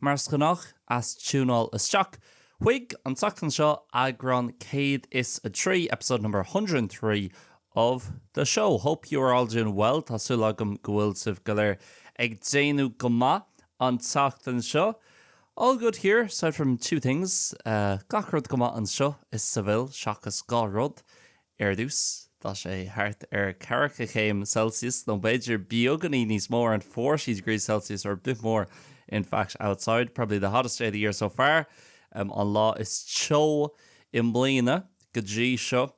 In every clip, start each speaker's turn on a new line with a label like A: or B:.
A: Mar is gnách, as tiúnáil isteach chuig an tseachtain seo, eagrán 103, episode number 103 of the show. Hope you are all doing well, tá súil agam go bhfuil sibh go léir ag déanamh go maith an tseachtain seo. All good here, aside from two things, gach rud go maith anseo i Sevilla, seachas dhá rud, Ar dtús, tá sé thart ar ceathracha céim Celsius, nó b'fhéidir beagáinín níos mó, around forty degrees Celsius or a bit more in fact outside, probably the hottest day of the year so far, an lá is teo i mbliana go dtí seo.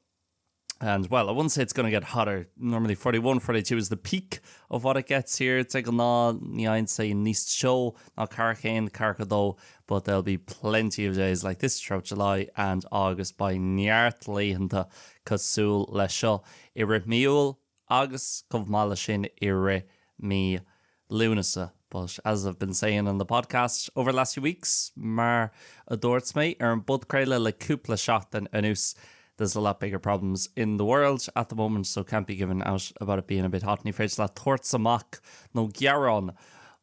A: And, well, I wouldn't say it's going to get hotter, normally forty one, forty two is the peak of what it gets here, de ghnáth ní fhaigheann sé níos teo ná ceathracha céim, ceathracha dó but there'll be plenty of days like this throughout July and August beidh neart laethanta cosúil leis seo i rith mí Iúil agus chomh maith leis sin i rith mí Lúnasa but as I've been saying on the podcast over the last few weeks mar a dúirt mé ar an bpodchraoladh le cúpla seachtain anuas there's a lot bigger problems in the world at the moment so can't be giving out about it being a bit hot ní féidir leat tabhairt amach nó gearán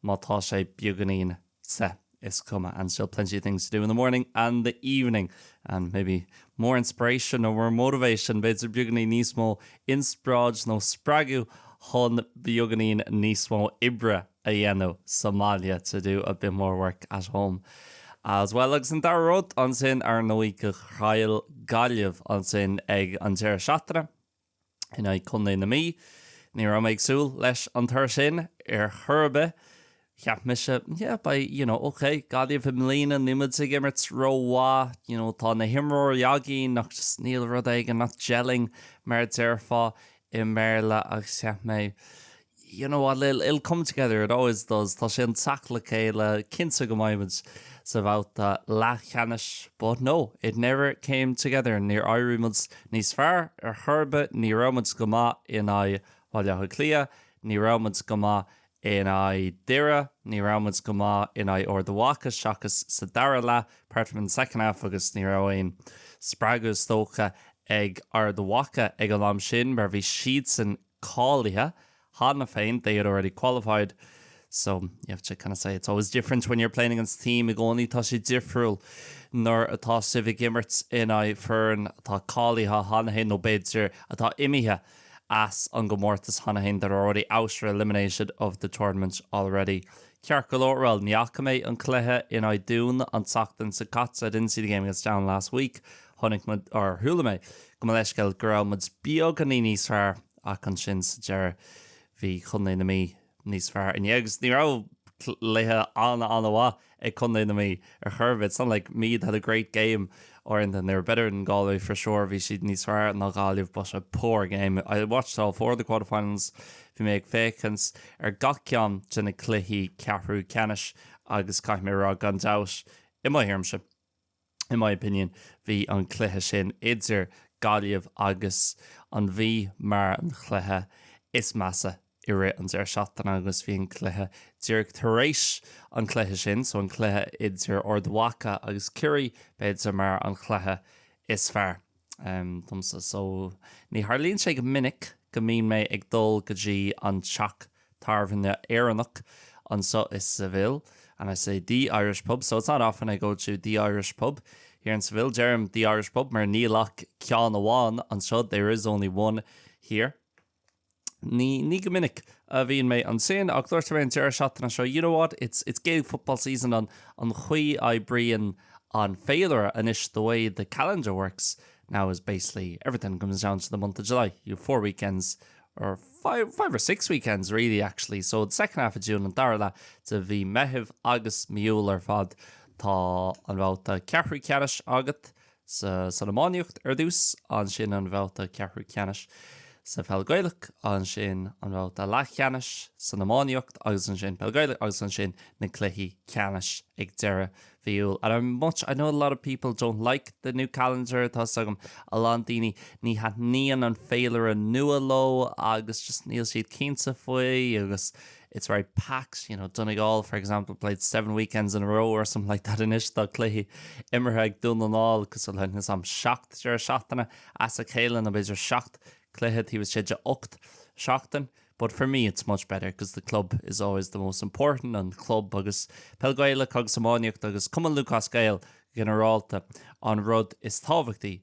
A: má tá sé beagáinín te, is cuma, and still plenty of things to do in the morning and the evening, and maybe more inspiration or more motivation, b'fhéidir beagainín níos mó inspioráid nó spreagadh chun beagainín níos mó oibre a dhéanamh sa mbaile, to do a bit more work at home, as well. Agus an dara rud ansin, ar ndóigh, gur chaill Gaillimh ansin ag an deireadh seachtaine. in aghaidh Chontae na Mí. Ní raibh mé ag súil leis an toradh sin ar chor ar bith. Cheap mise, yeah, beidh, you know, ok, Gaillimh i mbliana, níl muid ag imirt rómhaith, you know, tá na himreoirí againn ach just níl, rud éigin, nach gelling mar a déarfá i mBéarla agus cheap mé, you know, it'll come together, it always does, tá sé chun teacht le chéile, cinnte go mbeimid sa bhabhta leathcheannais, but no, it never came together, níor éirigh muid níos fearr ar chor ar bith, ní raibh muid go maith in aghaidh Bhaile Átha Cliath, ní raibh muid go maith in aghaidh Dhoire, ní raibh muid go maith in aghaidh Ard Mhacha seachas sa dara leath, apart from in the second half, agus ní raibh aon spreagadh is dócha ag Ard Mhacha ag an am sin mar bhí siadsan cáilithe cheana féin, they had already qualified. So, you have to kind of say it's always different when you're playing against a team, i gcónaí tá sé difriúil nuair atá sibh ag imirt in aghaidh foireann atá cáilithe cheana féin, nó b'fhéidir atá imithe as an gcomórtas cheana féin, that are already out or eliminated of the tournament already. Ceart go leor, bhuel, ní fhaca mé an cluiche in aghaidh an Dúin an tseachtain seo caite, I didn't see the game against Down last week. Chonaic, or chuala mé, go mo leithscéal, go raibh muid beagáinín níos fearr ach ansin sa deireadh bhí Contae na Mí níos fearr inné agus ní raibh cluiche an-an-mhaith ag Contae na Mí ar chor ar bith. It's not like Meath had a great game or anything, they were better than Galway for sure, bhí siad níos fearr ná Gaillimh but a poor game. I watched all four of the quarterfinals, bhí mé ag féachaint ar gach ceann de na cluichí ceathrú ceannais agus caithfidh mé a rá gan dabht, i mo thuairimse, in my opinion, bhí an cluiche sin idir Gaillimh agus an Mhí mar an chluiche is measa i rith an deireadh seachtaine agus bhí an cluiche díreach tar éis an chluiche sin so an cluiche idir Ard Mhaca agus Ciarraí b'fhéidir mar an chluiche is fearr. domsa so. Ní tharlaíonn sé go minic go mbíonn mé ag dul go dtí an teach tábhairne Éireannach anseo i Seville and I say the Irish pub so it's not often I go to the Irish pub here in Seville. Deirim the Irish pub mar níl ach ceann amháin anseo there is only one here. Ní go minic a bhíonn mé ansin, ach dúirt mé an deireadh seachtaine seo, you know what, it's it's Gaelic football season and an chaoi a oibríonn an féilire anois, the way the calendar works now is basically everything comes down to the month of July, you have four weekends or five, five or six weekends really actually, so the second half of June an dara leath de mhí Meithimh agus mí Iúil ar fad tá an babhta ceathrú ceannais agat san iománaíocht ar dtús, ansin an babhta ceathrú ceannais sa pheil Ghaelach, ansin an babhta leathcheannais san iománaíocht agus ansin peil Ghaelach agus ansin na cluichí ceannais ag deireadh mhí Iúil and I'm much, I know a lot of people don't like the new calendar tá a fhios agam, a lán daoine ní thaitníonn an féilire nua leo agus just níl siad cinnte faoi agus. It's very packed, you know, Donegal, for example, played seven weekends in a row or something like that anois tá cluichí imeartha ag Dún na nGall agus, níl a fhios agam, seacht deireadh seachtaine as a chéile nó b'fhéidir seacht cluiche taobh istigh de ocht seachtain. But for me it's much better because the club is always the most important, an club agus Peil Ghaelach agus iománaíocht agus Cumann Lúthchleas Gael go ginearálta an rud is tábhachtaí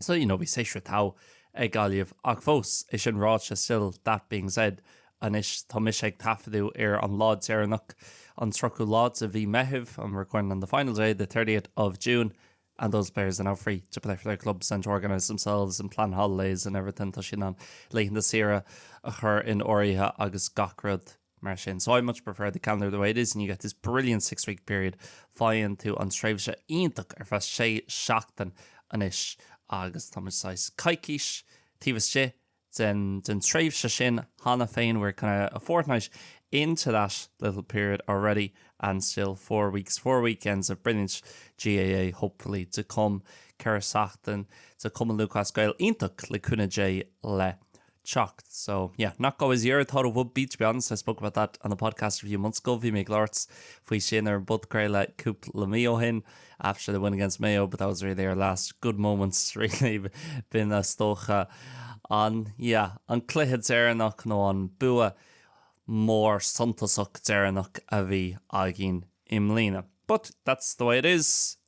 A: So, you know, bhí séasúr tough ag Gaillimh ach fós, é sin ráite, still that being said, anois tá mise ag taifeadadh ar an lá deireanach, an tríochú lá de mhí Meithimh, I'm recording on the final day, the thirtieth of June, and those players are now free to play for their clubs and to organise themselves and plan holidays and everything, tá siad in ann laethanta saoire a chur in áirithe agus gach rud. Mar sin, so I much prefer the calendar the way it is and you get this brilliant six-week period, faigheann tú an tréimhse iontach ar feadh sé seachtain anois agus táimid saghas coicís taobh istigh den, den tréimhse sin cheana féin, we're kind of a fortnight into that little period already and still four weeks, four weekends of brilliant GAA hopefully to come, ceithre seachtain de Cumann Lúthchleas Gael iontach le cúnamh Dé le teacht. So, yeah, not Galway's year, thought it would be, to be honest, I spoke about that on the podcast a few months ago, bhí mé ag labhairt faoi sin ar an bpodchraoladh cúpla mí ó shin, after the win against Mayo, but that was really their last good moment, really, b'in is dócha. An, yeah, an cluiche deireanach nó an bua mór suntasach deireanach a bhí againn i mbliana. But that's the way it is,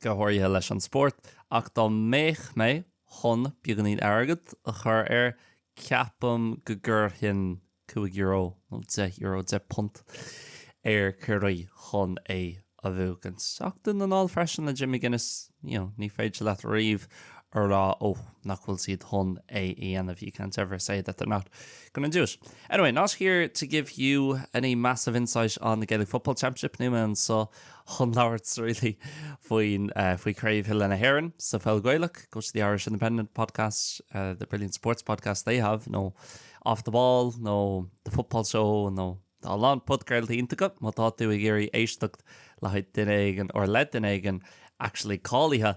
A: go háirithe leis an spórt, ach dá mbeadh mé chun beagáinín airgead a chur air, ceapaim go gcuirfinn cúig euro nó deich euro, deich punt, ar Chiarraí chun é a bhuachaint. Ach Dún na nGall freisin le Jim McGuinness, you know, ní féidir leat riamh a rá, oh, nach bhfuil siad chun é a dhéanamh, you can't ever say that they're not going to do it. Anyway, not here to give you any massive insight on the Gaelic Football Championship, níl mé anseo chun labhairt really faoin, faoi Craobh Peile na hÉireann sa pheil Gaelach, go to the Irish Independent Podcast, the brilliant sports podcast they have, nó Off the Ball, nó The Football Show, nó tá a lán podchraoltaí iontacha, má tá tú ag iarraidh éisteacht le haghaidh duine éigin, or le duine éigin, actually cáilithe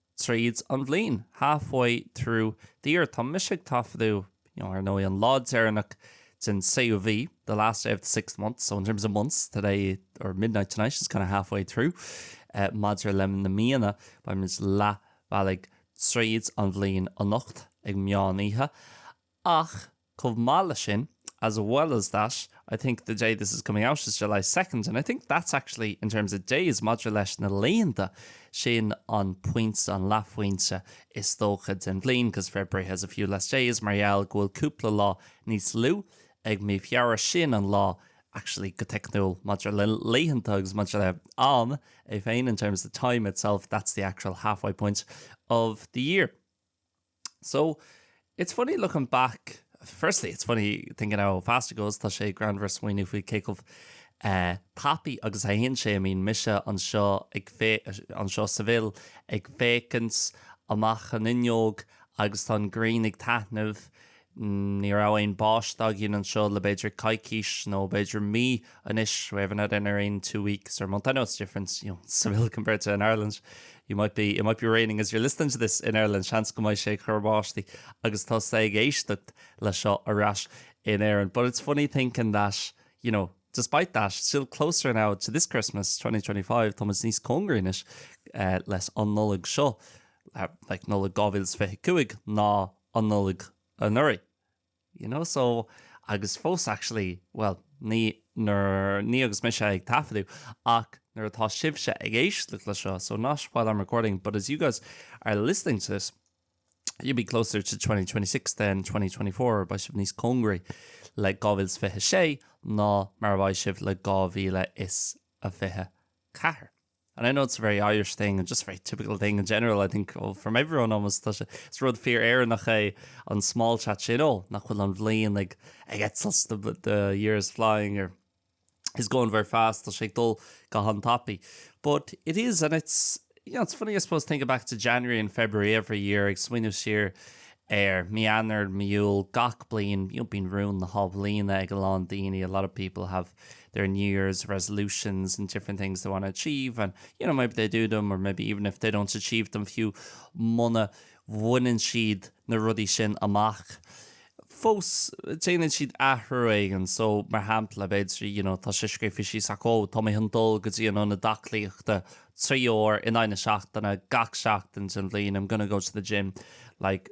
A: tríd an bhliain, half-way through the year. Tá mise ag taifeadadh, you know, ar ndóigh, an lá deireanach den séú mhí, the last day of the sixth month, so in terms of months, today, or midnight tonight, is kind of half-way through. Maidir le na míonna, beimid leath bealaigh tríd an bhliain anocht, ag meán oíche. Ach, chomh maith leis sin, as well as that, I think the day this is coming out is July second and I think that's actually, in terms of days, maidir le na laethanta, sin an pointe, an leathphointe, is dócha, den bhliain because February has a few less days mar gheall go bhfuil cúpla lá níos lú ag mí Feabhra, sin an lá, actually, go teicniúil, maidir le laethanta agus maidir le am é féin, in terms of time itself, that's the actual halfway point of the year. So, it's funny looking back, firstly it's funny thinking how fast it goes, tá sé greannmhar smaoineamh faoi cé chomh tapaidh agus a théann sé. I mean, tá mise anseo ag fé-, anseo Seville, ag féachaint amach an fhuinneog agus tá an ghrian ag taitneamh, Ní raibh aon báisteach againn anseo le b'fhéidir coicís nó b'fhéidir mí anois, we haven't had any rain in two weeks or a month, I know it's different, you know, Seville compared to in Ireland, you might be, it might be raining as you're listening to this in Ireland, seans go mbeidh sé ag cur báistí agus tá sibh ag éisteacht le seo ar ais in Éirinn. But it's funny thinking that, you know, despite that, still closer now to this Christmas 2025, táimid níos cóngaraí anois eh, leis an Nollaig seo, eh, like Nollaig 2025 ná an Nollaig anuraidh, you know, so, agus fós actually, bhuel, ní, ní, ní agus mise ag taifeadadh ach nuair atá sibhse ag éisteacht le seo, so not while I'm recording but as you guys are listening to this, you'll be closer to 2026 than 2024, beidh sibh níos cóngaraí le 2026 ná mar a bheidh sibh le 2024. And I know it's a very Irish thing and just a very typical thing in general, I think, oh, from everyone almost, tá sé, is rud fíor Éireannach é an small chat sin, oh, nach bhfuil an bhliain ag, ag eitilt, the, the year is flying, or is going very fast, tá sé ag dul go han-tapaidh. But it is, and it's, you know, it's funny, I suppose, thinking back to January and February every year, ag smaoineamh siar ar mí Eanáir, mí Iúil, gach bliain, you know, bíonn rúin na hathbhliana ag a lán daoine, a lot of people have New Year's, resolutions and different things they want to achieve and you know maybe they do them or maybe even if they don't achieve them fiú muna bhaineann siad na rudaí sin amach fós déanann siad athrú éigin so mar shampla b'fhéidir you know tá sé scríofa síos acu ó tá mé chun dul go dtí an ionad aclaíochta trí uair in aghaidh na seachtaine gach seachtain den bhliain I'm gonna go to the gym like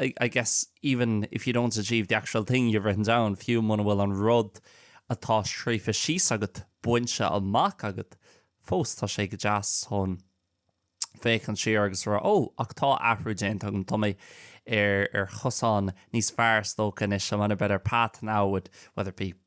A: I, I guess even if you don't achieve the actual thing you've written down, fiú muna bhfuil an rud atá scríofa síos agat bainte amach agat, fós tá sé go deas chun féachaint siar agus rá, oh, ach tá athrú déanta agam, tá mé ar, ar chosán níos fearr is dócha anois, I'm on a better path now with whether it be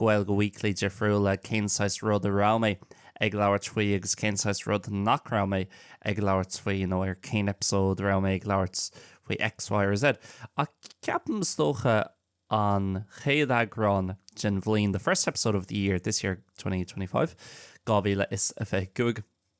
A: Gaeilge Weekly difriúil le cén saghas rud a raibh mé ag labhairt faoi agus cén saghas rud nach raibh mé ag labhairt faoi nó ar cén episode a raibh mé ag labhairt faoi X, Y or Z. Ach ceapaim, is dócha, an chéad eagrán den bhliain, the first episode of the year, this year, 2025, 2025.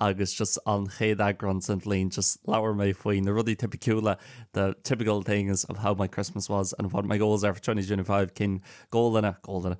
A: agus just an chéad eagrán den bhliain just labhair mé faoi na rudaí tipiciúla the typical things of how my Christmas was and what my goals are for 2025 cén gólanna, gólanna?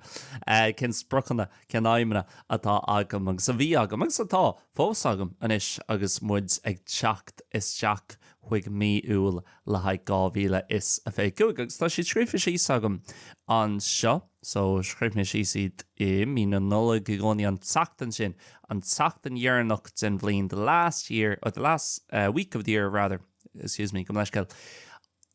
A: eh, cén spriocanna, cén aidhmeanna atá agam agus a bhí agam agus atá fós agam anois agus muid ag teacht isteach chuig mí Iúil le haghaidh 2025 agus tá siad scríofa síos agam anseo. So, scríobh mé síos iad i mí na Nollag i gcónaí, an tseachtain sin, an tseachtain dheireanach den bhliain, the last year, or the last week of the year, rather, excuse me, gabh mo leithscéal,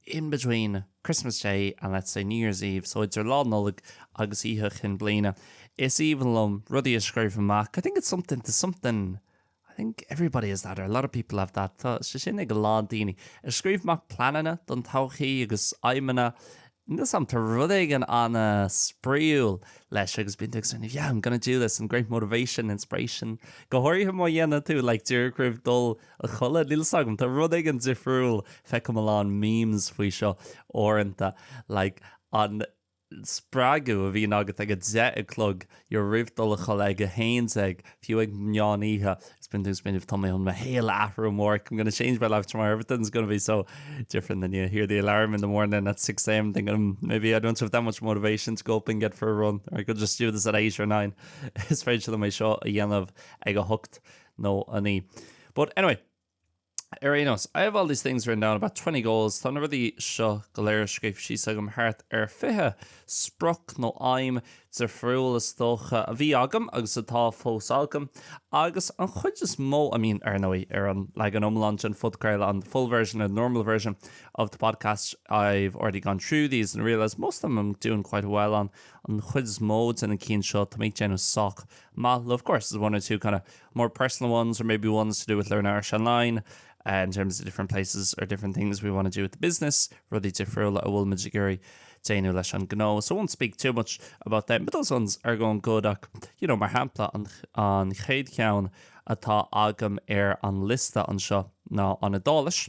A: in between Christmas Day and, let's say, New Year's Eve, so idir Lá Nollag agus Oíche Chinn Bliana. Is aoibhinn liom rudaí a scríobh amach, I think it's something, there's something, I think everybody has that, or a lot of people have that, tá sé sin ag a lán daoine. Ag scríobh amach pleananna don todhchaí agus aidhmeanna níl 'fhios a'm, tá rud éigin an-spraíúil leis agus bíonn tú ag smaoineamh yeah, I'm gonna do this, some great motivation, inspiration. Go háirithe má dhéanann tú like díreach roimh dhul a chodladh, níl 'fhios agam, tá rud éigin difriúil, feicim a lán memes faoi seo uaireanta, like an, spreagadh a bhíonn agat ag a deich a chlog you know roimh dul a chodladh ag a haon déag fiú ag meán oíche bíonn tú ag smaoineamh tá mé chun mo shaol a athrú amárach I'm gonna change my life tomorrow everything's gonna be so different then you hear the alarm in the morning at 6am thinking hmm, maybe I don't have that much motivation to go up and get for a run or I could just do this at 8 or 9 is féidir liom é seo a dhéanamh ag a hocht nó a naoi but anyway Ar aon nós, I have all these things written down, about twenty goals, tá na rudaí seo go léir scríofa síos agam, thart ar fiche sprioc nó aidhm difriúil, is dócha, a bhí agam agus atá fós agam, agus an chuid is mó, I mean, ar ndóigh, ar an leagan iomlán den phodchraoladh, on the full version, the normal version of the podcast, I've already gone through these and realised most of them I'm doing quite well on, an chuid is mó de na cinn seo, tá mé ag déanamh sách maith, of course, there's one or two kind of more personal ones or maybe ones to do with Learn Irish Online, in terms of different places or different things we want to do with the business, rudaí difriúla a bhfuil muid ag iarraidh déanamh leis an gnó. So I won't speak too much about them, but those ones are going good ach, you know, mar shampla an, an chéad cheann atá agam ar an liosta anseo ná an Iodáilis.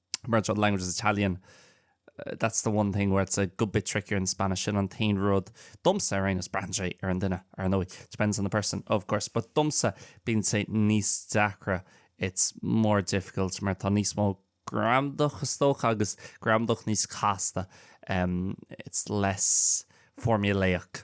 A: mar the language is Italian, that's the one thing where it's a good bit trickier than Spanish, sin an t-aon rud domsa ar aon nós, braitheann sé ar an duine ar ndóigh, depends on the person of course, but domsa bíonn sé níos deacra, it's more difficult, mar tá níos mó gramadach is dócha agus gramadach níos casta, it's less formulaic.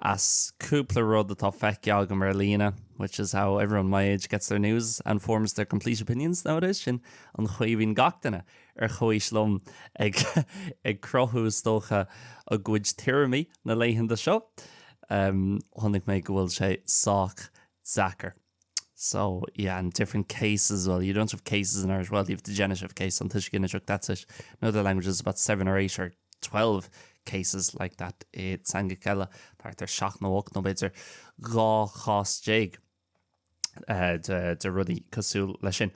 A: as cúpla rud atá feicthe agam ar líne, which is how everyone my age gets their news and forms their complete opinions nowadays, sin an chaoi a bhíonn gach duine ar comhaois liom ag cruthú, is dócha, a gcuid tuairimí na laethanta seo. Chonaic mé go bhfuil sé sách deacair. So, yeah, and different cases, well, you don't have cases in Irish, well, you have the genitive case, an tuiscint is ag that's it. In other languages, there's about seven or eight or twelve cases like that i teangacha eile, thart ar seacht nó ocht nó b'fhéidir dhá chás déag uh, de, de rudaí cosúil leis sin.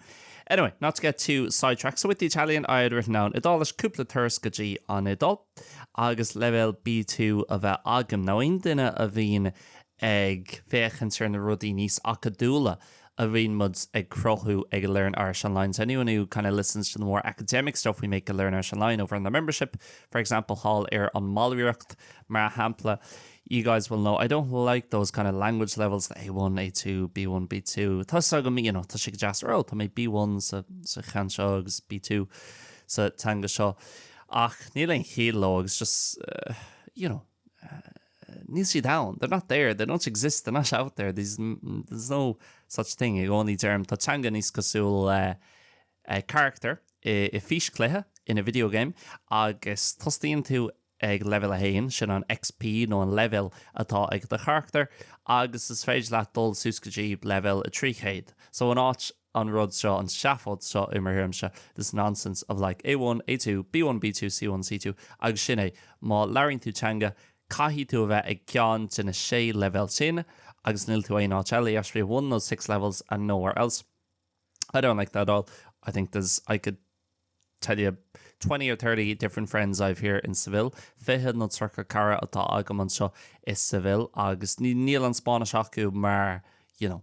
A: Anyway, not to get too sidetracked, so with the Italian I had written down Idális cúpla turas go dtí an Iodáil. agus leibhéal B2 a bheith agam, nó aon duine a bhíonn ag féachaint ar na rudaí níos acadúla a bhíonn muid ag cruthú ag Learn Irish Online. So anyone who kind of listens to the more academic stuff we make at Learn Irish Online over in the membership, for example, thall ar an mballraíocht, mar shampla, you guys will know I don't like those kind of language levels, the A1, A2, B1, B2. Tá a fhios agam tá sé go deas a rá, Tá mé B1 sa, sa cheann seo agus B2 sa teanga seo. Ach níl aon chiall leo agus just, you know, níl siad ann, they're not there, they don't exist, they're not out there, these, there's no such thing I don't think. Tá teanga níos cosúil le character i fís chluiche in a video game agus tosaíonn tú ag leibhéal 1, sin an XP nó an leibhéal atá ag do charachtar, agus is féidir leat dul suas go dtí leibhéal 300. So an áit an rud seo, an seafóid seo i mo thuairimse, this nonsense of like A1, A2, B1, B2, C1, C2, agus sin é, má labhraíonn tú teanga, caithfidh tú a bheith ag ceann de na sé leibhéal sin agus níl tú aon áit eile, you have to be one of those six levels and nowhere else. I don't like that at all, I think there's, I could tell you twenty or thirty different friends I have here in Seville, fiche nó tríocha cara atá agam anseo i Seville agus níl an Spáinnis acu mar, you know,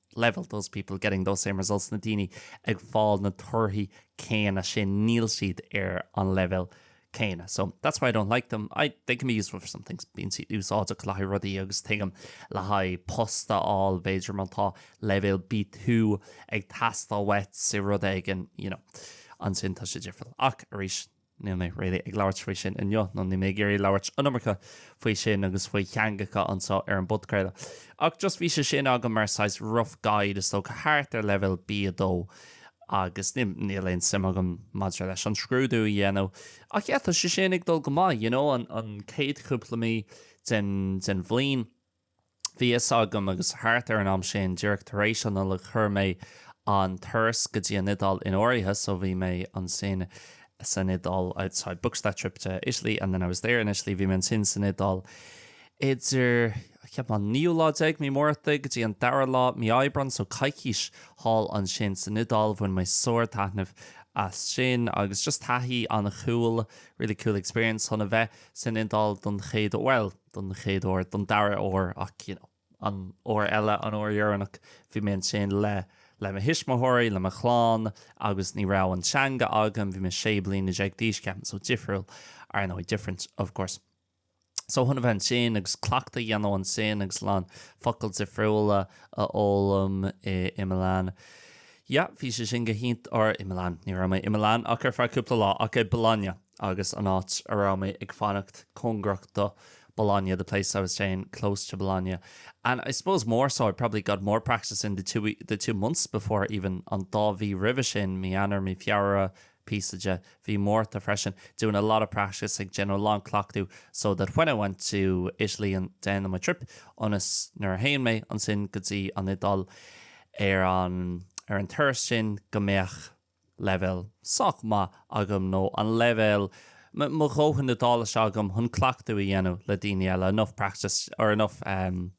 A: level those people getting those same results na daoine ag fáil na torthaí céanna sin, níl siad ar an leibhéal céanna. So that's why I don't like them. I, they can be useful for some things, bíonn siad úsáideach le haghaidh rudaí agus tuigim le haghaidh post a fháil b'fhéidir má tá leibhéal B2 ag teastáil uait i rud éigin, you know, ansin tá sé difriúil. Ach arís, Níl mé really ag labhairt faoi sin inniu, nó níl mé ag iarraidh labhairt an iomarca faoi sin agus faoi theangacha anseo ar an bpodcraoladh, ach just bhí sé sin agam mar saghas rough guide, is dócha, thart ar leibhéal B2. Agus níl, níl aon suim agam maidir leis an scrúdú a dhéanamh, ach yeah, tá sé sin ag dul go maith, you know, an, an chéad chúpla mí den, den bhliain. Bhí a fhios agam, agus thart ar an am sin, díreach tar éis an Nollaig, chuir mé an turas go dtí an Iodáil in áirithe, so bhí mé ansin san Iodáil, I booked that trip to Italy and then I was there in Italy, bhí mé ansin san Iodáil idir, ceapaim, an naoú lá déag, Mí Márta, go dtí an dara lá, Mí Aibreán, so coicís thall ansin san Iodáil, bhain mé sár-taitneamh as sin agus just taithí an-cool, really cool experience chun a bheith san Iodáil don chéad uair, bhuel. don chéad uair, don dara huair ach you know an uair eile, an uair dheireanach bhí mé ansin le le mo thuismitheoirí, le mo chlann agus ní raibh an teanga agam, bhí mé sé bliana déag d'aois, ceapaim, so difriúil, ar ndóigh, different of course. So chun a bheith ansin agus cleachtadh a dhéanamh ansin agus a lán focail difriúla a fhoghlaim i i Milan, yeah bhí sé sin go hiontach, or i Milan, ní raibh mé i Milan ach ar feadh cúpla lá ach i Bologna. agus an áit a raibh mé ag fanacht cóngarach do Bologna, the place I was staying close to Bologna. And I suppose more so I probably got more practice in the two the two months before even an dá mhí roimhe sin, mí Eanáir, mí Feabhra, píosa de mhí Mhárta freisin, doing a lot of practice, ag déanamh a lán cleachtaidh so that when I went to Italy and then on my trip ionas nuair a théim mé ansin go dtí an Iodáil ar an ar an turas sin go mbeadh leibhéal sách maith agam nó an leibhéal, mo dhóthain Iodáilise agam chun cleachtadh a dhéanamh le daoine eile, enough practice or enough, em,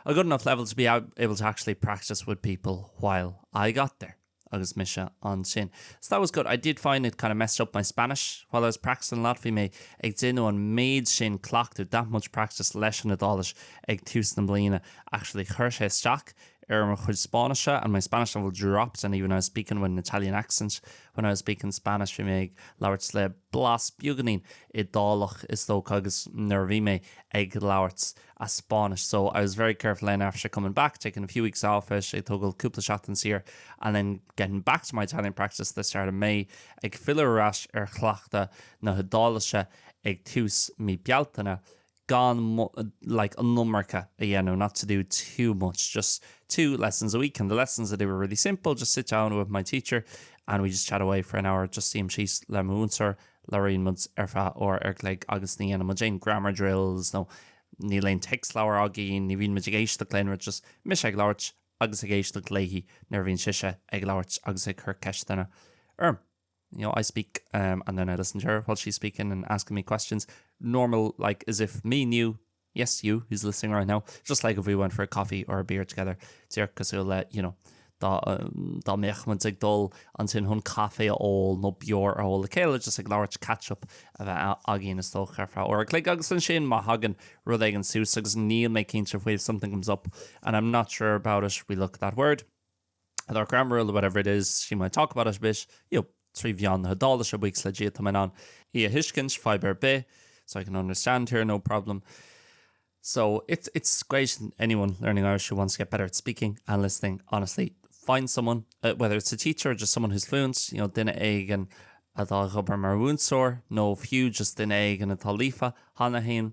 A: a good enough level to be able to actually practice with people while I got there agus mise ansin. So that was good. I did find it kind of messed up my Spanish while I was practicing a lot a bhí mé ag déanamh an méid sin cleachtadh, that much practice leis an Iodáilis ag tús na bliana. Actually chuir sé isteach ar mo chuid Spáinnise and my Spanish level dropped and even I was speaking with an Italian accent when I was speaking Spanish bhí mé ag labhairt le blas beaganín Iodálach is dócha agus nuair a bhí mé ag labhairt as Spáinnis so I was very careful then after coming back taking a few weeks off ag tógáil cúpla seachtain saor and then getting back to my Italian practice the start of May ag filleadh ar ais ar chleachtadh na hIodáilise ag tús mí Bealtaine gan like an iomarca a dhéanamh not to do too much just two lessons a week and the lessons I do were really simple just sit down with my teacher and we just chat away for an hour just suím síos le mo mhúinteoir labhraíonn muid ar feadh uair an chloig agus ní dhéanann muid aon grammar drills nó níl aon téacsleabhar againn ní bhíonn muid ag éisteacht le haon rud just mise ag labhairt agus ag éisteacht léi nuair a bhíonn sise ag labhairt agus ag cur ceisteanna orm you know, I speak um, and then I listen to her while she's speaking and asking me questions. Normal, like as if me and you, yes, you, who's listening right now, just like if we went for a coffee or a beer together, because he'll let, you know, um, dá méchman ag dul an sin hunn caé ó nó beor a hóla chéile just ag láirt catchup a bheith agén is tócharfa or lé agus san sin má hagan rud ag an sús agus níl mé cinnte fuil something comes up and I'm not sure about it we look that word. At our grammar rule, whatever it is, she might talk about it a bit, ach, you know, trí mheán na hIodáilise buíochas le Dia tá mé in ann í a thuiscint fadhb ar bith, so I can understand her, no problem. So it's, it's great, anyone learning Irish who wants to get better at speaking and listening, honestly, find someone, uh, whether it's a teacher or just someone who's fluent, you know, duine éigin atá ag obair mar mhúinteoir, nó fiú just duine éigin atá líofa, thána féin,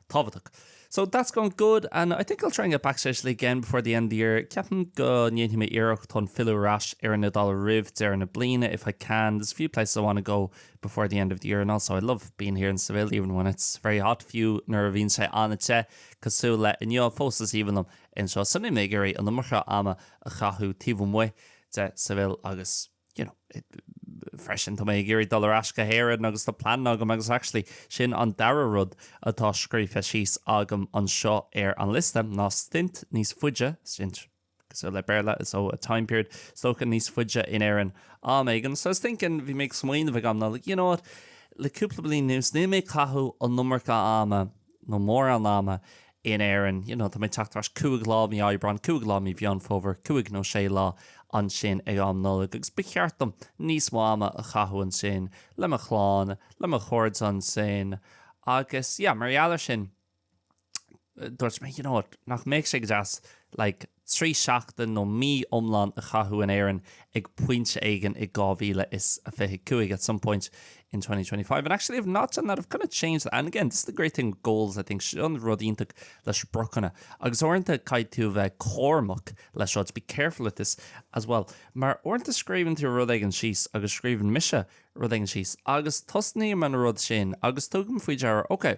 A: tábhachtach. So that's going good and I think I'll try and get back to Italy again before the end of the year. Ceapaim go ndéanfaidh mé iarracht chun filleadh ar ais ar an Iodáil roimh deireadh na bliana if I can. There's a few places I want to go before the end of the year and also I love being here in Seville even when it's very hot fiú nuair a bhíonn sé an-te cosúil le inniu fós is aoibhinn liom anseo so níl mé ag iarraidh an iomarca ama a chaitheamh taobh amuigh de Seville agus you know, freisin tá mé ag iarraidh dul ar ais go hÉirinn agus tá plean agam agus actually sin an dara rud atá scríofa síos agam anseo ar an liosta ná stint níos faide, stint sin le Béarla, so a time period, stoca níos faide in Éirinn am éigin. So I was thinking, bhí mé ag, an smaoineamh a bhí agam ná like, you know what, le cúpla bliain anuas níl mé ag caitheamh an iomarca ama nó mórán ama, in Éirinn, you know tá mé ag teacht ar ais cúig lá mí Aibreáin, cúig lá mí Mheán Fómhair, cúig nó sé lá ansin ag am Nollag agus ba cheart dom níos mó ama a chaitheamh ansin le mo chlann, le mo chairde ansin agus yeah mar gheall air sin dúirt mé you know what nach mbeadh sé go deas like. trí sheachtain nó mí iomlán a chaitheamh in Éirinn ag pointe éigin i 2025 at some point in 2025 and actually I've not done that I've kind of changed that and again this is the great thing with goals I think seo an rud iontach le spriocanna agus uaireanta caithfidh tú a bheith cúramach leis seo to be careful with this as well mar uaireanta scríobhann tú rud éigin síos agus scríobhann mise rud éigin síos agus tosnaím an rud sin agus tugaim faoi deara ok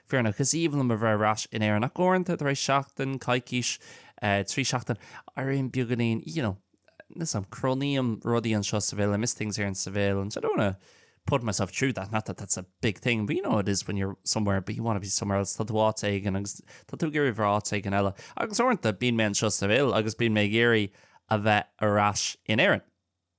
A: fírinneach. Is aoibhinn liom a bheith ar ais in Éirinn, ach uaireanta, tar éis seachtain, coicís, trí sheachtain, éirím beagáinín, you know, níl a fhios agam. Cronaím rudaí anseo sa Bheilg, I miss things here in sa Bheilg, and I don't wanna put myself through that, not that that's a big thing, but you know how it is when you're somewhere, but you wanna be somewhere else, tá tú áit éigin, agus tá tú ag iarraidh bheith áit éigin eile. Agus uaireanta, bíonn mé anseo sa Bheilg, agus bíonn mé ag iarraidh a bheith ar ais in Éirinn.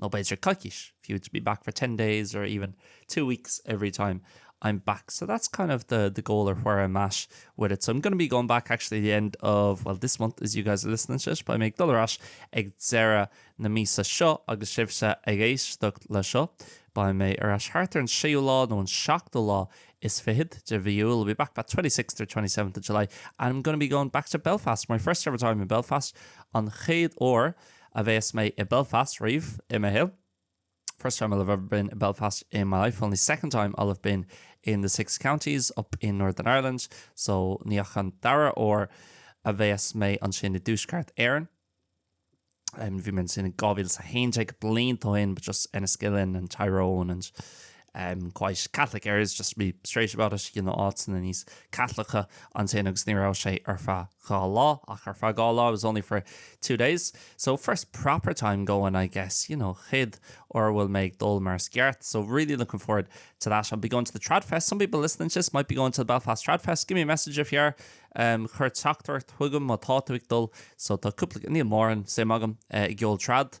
A: nó b'fhéidir coicís, if you were to be back for ten days or even two weeks every time I'm back, so that's kind of the the goal or where I'm at with it. So I'm gonna be going back actually the end of, well, this month as you guys are listening to it, beidh mé ag dul ar ais ag deireadh na míosa seo agus sibhse ag éisteacht le seo, beidh mé ar ais thart ar an séú lá nó an seachtú lá is fichead de mhí Iúil, I'll be back about twenty sixth or twenty seventh of July and I'm gonna be going back to Belfast, my first ever time in Belfast, an chéad uair a bheas mé i Belfast riamh i mo shaol, first time I'll have ever been in Belfast in my life, only second time I'll have been in the six counties up in Northern Ireland, so ní ach an dara uair a bheas mé ansin i dTuaisceart Éireann. Bhí mé ansin in 2011, blianta ó shin, but just Enniskillen and Tyrone and um quite Catholic areas just to be straight about it, you know, áiteanna níos Caitliceacha ansin agus ní raibh sé ar feadh dhá lá, ach ar feadh dhá lá, it was only for two days. So first proper time going I guess, you know, chéad uair a bhfuil mé ag dul mar is ceart, so really looking forward to that, I'll be going to the Tradfest, some people listening to this might be going to the Belfast Tradfest, give me a message if you are, um, chuir teachtaireacht chugam má tá tú ag dul, so tá cúpla, níl mórán suim agam i gceol trad,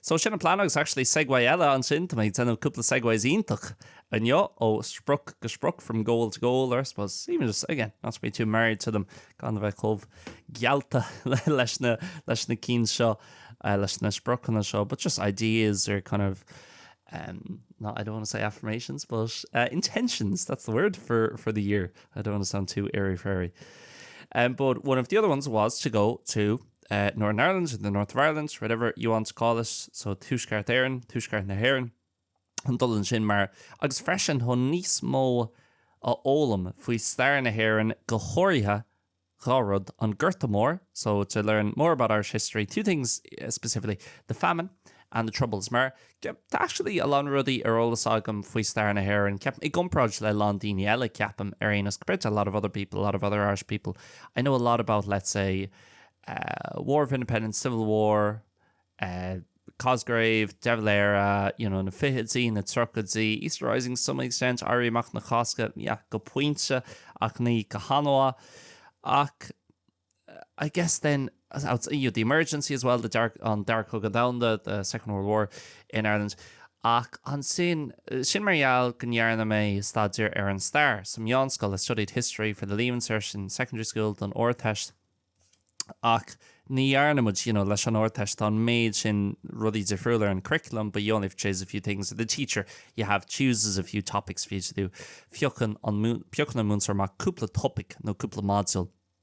A: So sin an plean agus actually segway eile ansin, tá mé ag déanamh cúpla segways iontach anseo ó sprioc go sprioc from goal to goal or I suppose even just again not to be too married to them gan bheith chomh gealta leis na leis na cín seo uh, leis na spriocanna seo, but just ideas or kind of um, not I don't want to say affirmations, but uh, intentions. That's the word for for the year. I don't want to sound too airy fairy. Um, but one of the other ones was to go to eh, Northern Ireland, or the North of Ireland, whatever you want to call it, so Tuaisceart Éireann, Tuaisceart na hÉireann, chun dul ansin mar agus freisin chun níos mó a fhoghlaim faoi stair na hÉireann go háirithe dhá rud, an Gorta Mór, so to learn more about Irish history, two things eh, specifically, the famine and the troubles, mar ge- tá actually a lán rudaí ar eolas agam faoi stair na hÉireann, ceap i gcomparáid le lán daoine eile ceapaim ar aon nós compared to a lot of other people, a lot of other Irish people, I know a lot about, let's say, War of Independence, Civil War, Cosgrave, De Valera, you know, na fichidí, na tríochaidí, Easter Rising, some extent, Éirí Amach na Cásca, yeah, go pointe ach ní go han-mhaith. Ach I guess then, as out, you know, the emergency as well, the dark, on Dark Hug and Down, the, the Second World War, in Ireland. Ach ansin, sin mar gheall go ndearna mé staidéar ar an stair sa mheánscoil, I studied history for the leaving cert in secondary school, don Ardteist. Ach ní dhearna muid, you know, leis an Ardteist, tá an méid sin rudaí difriúla ar an curriculum but you only have to choose a few things, the teacher, you have, chooses a few topics for you to do. Piocann an, piocann an múinteoir amach cúpla topaic nó cúpla module.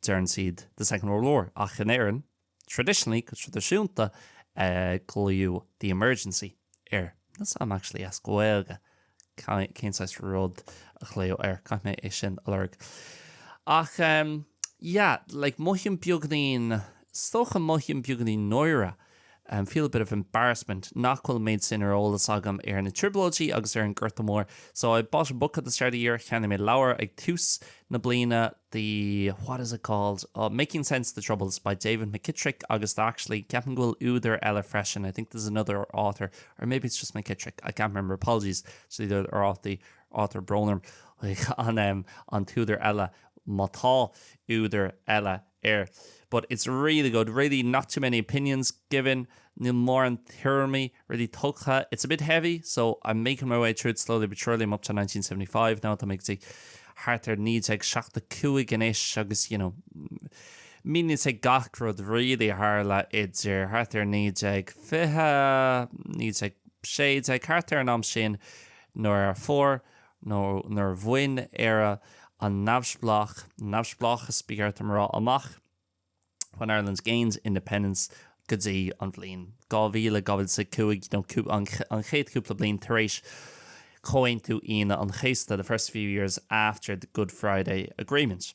A: deireann siad the Second World War, ach in Éirinn, traditionally, go traidisiúnta, glaodh the Emergency air. That's, I'm actually, as Gaeilge, cén saghas rud a glaodh air, caithfidh mé é sin a lorg. Ach, yeah, like, mothaím beagainín, is dócha mothaím beagainín náire I feel a bit of embarrassment nach bhfuil an méid sin ar eolas agam ar na Trioblóidí agus ar an Gorta Mór so I bought a book at the start of the year cheannaigh mé leabhar ag tús na bliana the what is it called oh Making Sense of the Troubles by David McKittrick agus tá actually ceapaim go bhfuil údar eile freisin I think there's another author or maybe it's just McKittrick I can't remember apologies to the author tá brón orm an t-údar eile má tá údar eile air, but it's really good, really not too many opinions given, níl mórán tuairimí really tugtha, it's a bit heavy, so I'm making my way through it slowly but surely, I'm up to 1975 now, tá mé go dtí thart ar 1975 anois agus, you know, míníonn sé gach rud really a tharla idir thart ar 1920, 1916, thart ar an am sin nuair a fuair nó nuair a bhain Éire an neamhspleách, neamhspleáchas ba cheart dom a rá, amach, when Ireland gained independence, go dtí an bhliain 2000, 2005, nó an chéad chúpla bliain tar éis Chomhaontú Aoine an Chéasta, the first few years after the Good Friday Agreement.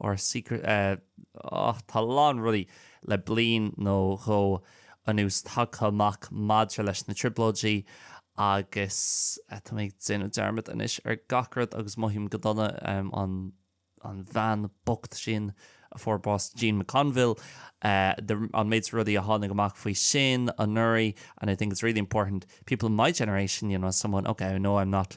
A: Our secret eh, oh, tá a lán rudaí le bliain nó dhó anuas tagtha amach maidir leis na Trioblóidí agus eh, tá mé ag déanamh dearmad anois ar gach rud agus mothaím go dona em, an, an bhean bocht sin a fuair bás Jean McConville, eh, the, an méid rudaí a tháinig amach faoi sin anuraidh and I think it's really important people in my generation, you know, someone, okay, I know I'm not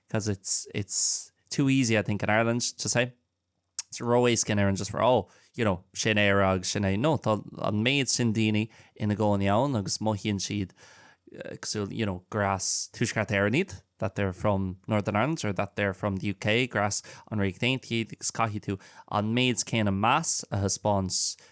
A: 'cause it's it's too easy I think in Ireland to say tá sé ró-éasca in Éirinn just a rá you know sin Éire agus sin é'. No, tá an méid sin daoine ina gcónaí ann agus mothaíonn siad cosúil you know gur as Tuaisceart Éireann iad, that they're from Northern Ireland or that they're from the UK, gur as an Ríocht Aontaithe iad agus caithfidh tú an méid céanna meas a thaispeáint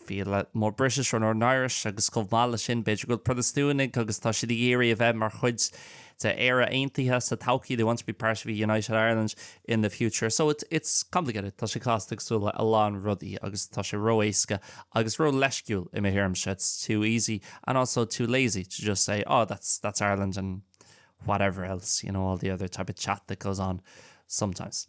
A: feel more British or Northern Irish agus chomh maith leis sin, b'fhéidir go bhfuil Protastúnaigh agus tá siad ag iarraidh a bheith mar chuid de Éire Aontaithe sa todhchaí, they want to be part of a united Ireland in the future. So it's it's complicated, tá sé casta cosúil le a lán rudaí agus tá sé ró-éasca agus ró-leisciúil i mo thuairimse, it's too easy and also too lazy to just say, oh that's that's Ireland and whatever else, you know, all the other type of chat that goes on sometimes.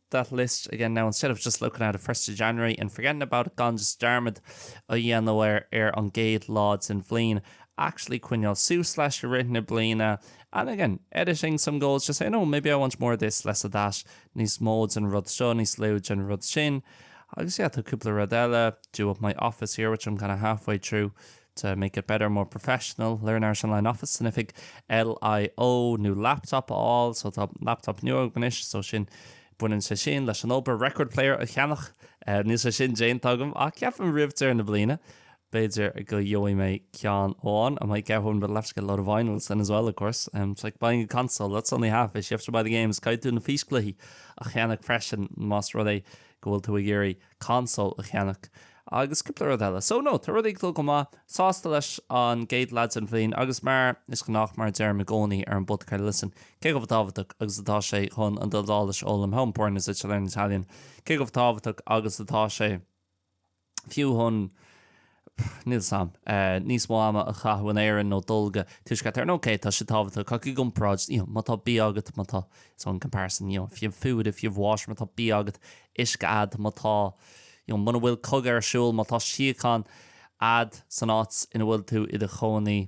A: that list again now instead of just looking at it 1st January and forgetting about it gan just dearmad a dhéanamh ar ar an gcéad lá den bhliain actually coinneáil suas leis i rith na bliana and again editing some goals just saying oh maybe I want more of this less of that níos mó den rud seo níos lú den rud sin agus yeah tá cúpla rud eile do up my office here which I'm kind of halfway through To make it better, more professional, Learn Irish Online Office sin oifig LIO, new laptop a fháil, so tá laptop nua agam anois, so sin, baineann sé sin leis an obair, record player a cheannach, níl sé sin déanta agam ach ceapaim roimh deireadh na bliana, b'fhéidir go gheobhaidh mé ceann amháin, I might get one, but I'll have to get a load of vinyls then as well, of course. It's like buying a console, that's only half it, you have to buy the games, caithfidh tú na físchluichí a cheannach freisin más rud é go bhfuil tú ag iarraidh console a cheannach agus cúpla rud eile. So no, tá rudaí ag dul go maith. Sásta leis an gcéad leath den bhliain agus mar is gnách, mar a deirim i gcónaí ar an bpod, ah, listen, cé chomh tábhachtach agus atá sé chun an Iodáilis a fhoghlaim, how important is it to learn Italian? cé chomh tábhachtach agus atá sé fiú chun Níl sam. níos mó ama a chaitheamh in Éirinn nó dul go Tuaisceart Éireann, ok, tá sé tábhachtach ach i gcomparáid, you know, má tá bia agat, má tá, so in comparison, you know, if you have food, if you have water, má tá bia agat, uisce a'd, má tá, you know, muna bhfuil cogadh ar siúl, má tá síocháin a'd san áit ina bhfuil tú i do chónaí,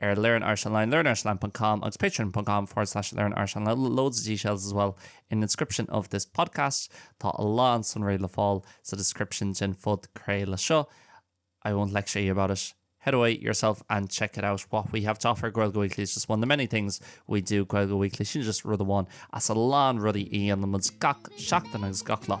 A: ar Learn Irish Online learnirishonline.com agus patreon.com forward slash Learn Irish Online loads of details as well in the description of this podcast Tá a lán sonraí le fáil sa description den phodchraoladh seo I won't lecture you about it head away yourself and check it out what we have to offer Gaeilge Weekly is just one of the many things we do Gaeilge Weekly sin just rud amháin as a lán rudaí a dhéanann muid gach seachtain agus gach lá